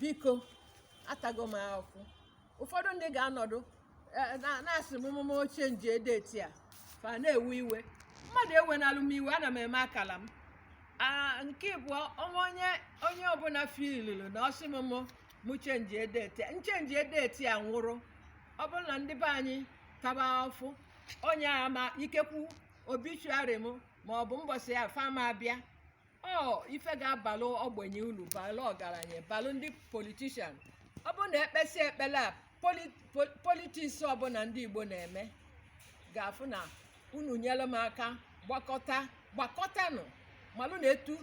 biko atago m afụfụ ụfọdụ ndị ga-anọdụ eh, na- na-asị m mụ mụ chenjie date a fa na-ewe iwe mmadụ ewenalụ m iwe ana m eme akala m Ah, nke ịbụọ ọnwa onye onye ọbụla filulu na ọsị m mụ mụ chenjie date a. m chenjie date a nwụrụ ọ bụrụ na ndị be anyị taba afụfụ onye ma ikekwu obituary m ma ọ bụ mbọsị ya fa ama abịa ọ ife ga-abalụ ogbenye ulu balụ ọgaranya balụ ndị politician ọ bụrụ na e kpesie ekpele a poli- pol- politics ọbụla ndị igbo na-eme ga-afụ na unu nyelụ m aka gbakọta gbakọtanụ malụ na etu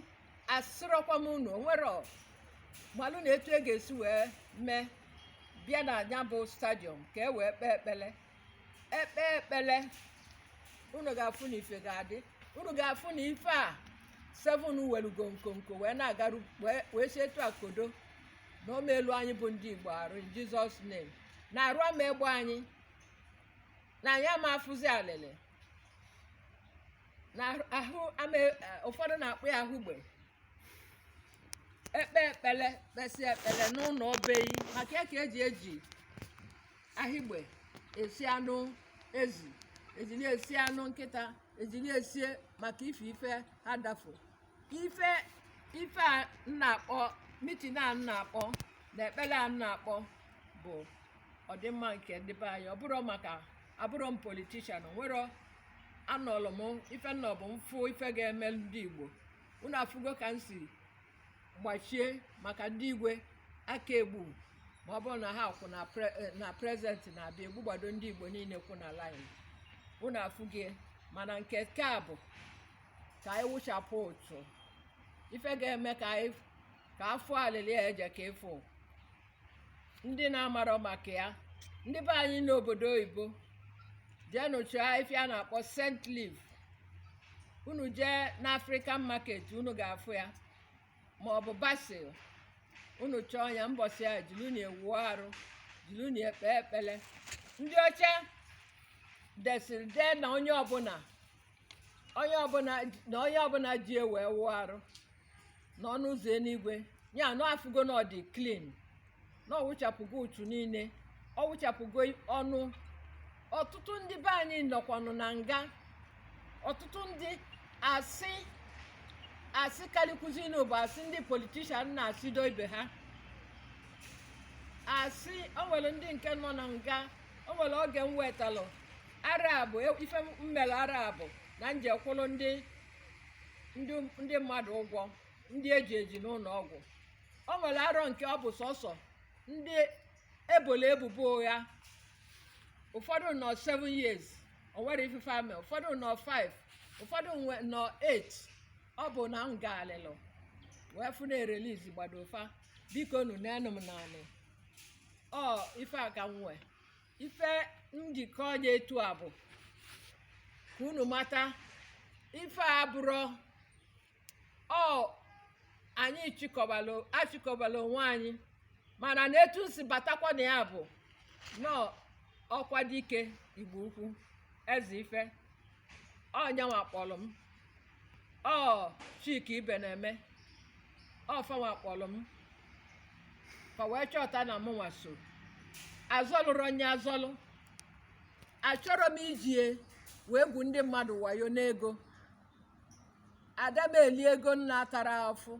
asịrọkwa m unu onwere ọ- malụ na etu e ga-esi wee mee bịa na nya bụ stadium ka e wee kpee ekpele ekpe ekpele unu ga-afụ na ife ga-adị unu ga-afụ na ife a seven welugo nkonko wee na-agaru wee- wee si etu akodo na o meelu anyị bụ ndị igbo arụ in Jesus name na arụ ama egbu anyị na anyị ama afụzi alịlị na ahụ- ahụ ama e- ụfọdụ na-akpọ ya ahịgbe ekpe ekpele kpesị ekpele n'ụnọ be yị maka ya ka eji eji ahịgbe esi anụ ezi e ji na-esi anụ nkịta e ji na-esie maka ife ife ha dafu ife ife a m na-akpọ meeting a m na-akpọ na ekpele a m na-akpọ bụ ọdịmma nke ndị be anyị ọ bụrụ maka abụrụ m politician nwere anọlụ m ife m nọbụ m fụ ife ga-eme ndị igbo unu afụgo ka m si gbachie maka ndị igwe a ka-egbu ma ọ bụrụ na ha kwu na pre- eh, na president na-abịa egbugbado ndị igbo niile kwụ na line unu afụgo ya mana nke nke a bụ ka anyị wụchapụ uchu ife ga-eme ka anyị ka afụ alịlị a eje ka ịfụ ndị na-amarọ maka ya ndị be anyị n'obodo oyibo jeenụ chọọ afịfịa a na-akpọ scent leaf unu jee n'african market unu ga-afụ ya ma ọ bụ basil unu chọọ ya mbọsị ya jilunu ya wụọ arụ jilunu ya kpee ekpele ndị ọcha desịrị dee na onye ọbụla onye ọbụla na onye ọbụla ji ya wee wụọ arụ na ọnụ ụzọ eluigwe ya na afụgo na ọ dị clean na ọ wụchapụgo uchu niile ọ wụchapụgo ọnụ ọtụtụ ndị be anyị nọkwanụ na nga ọtụtụ ndị asị asị kalịkwuzinụ bụ asị ndị politician na-asịdo ibe ha asị o nwere ndị nke nọ na nga o nwere oge m wetalụ arọ bụ e, ife m mere arọ bụ na m je kwụrụ ndị ndị mmadụ ụgwọ ndị e ji eji n'ụlọ ọgwụ o nwere arọ nke ọ bụ sọsọ ndị e bolu ebubo ụgha ụfọdụ nọ 7 years o nwerọ ife fa me ụfọdụ nọ 5 ụfọdụ nọ 8 ọ bụ na m gbalịlụ wee fụ na e release gbado fa bikonụ n'enu m naanị ọ ife a ka m nwee ife m ji akọ nya etu a bụ ka unu mata ife a abụrọ anyị achịkọbala onwe anyị mana na etu m si batakwa na ya bụ na ọ okwadike igbo ukwu ezeife ọ nyanwa kpọrọ m ọ chika ibeneme ọ fanwa kpọrọ m ka wee chọta na mụnwa so azọlụrụ onye azọlụ achọrọ m iji ya wee gwu ndị mmadụ wayo n'ego ada m eli ego m natara afụ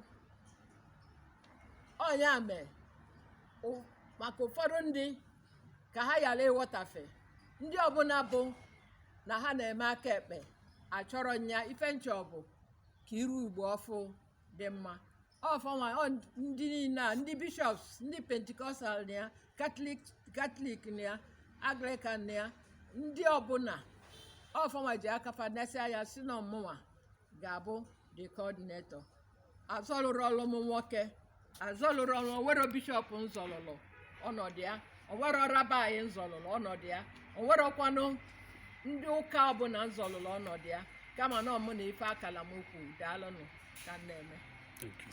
ọ nya mee ụ- maka ụfọdụ ndị ka ha ghara ịghọtafe ndị ọbụla bụ na ha na-eme aka ekpe achọrọ m nya ife m chọ bụ ka iru igbo ọfụ dị mma ọ fanwa ọ ndị niile a ndị bishops ndị pentecostal na ya catholic na ya anglican na ya ndị ọbụla ọ fanwa ji aka fa nesie anya sị na ọ mụnwa ga-abụ the coordinator azọlụrụ ọlụ m nwoke azọlụrụ ọlụ o nwerọ bishop m zọlụlụ ọnọdụ ya o nwerọ rabbi m zọlụlụ ọnọdụ ya o nwerọkwanụ ndị ụka ọbụla m zọlụlụ ọnọdụ ya kama na ọ mụ na ife akala m ukwu daalụnụ ka m na-eme Thank you.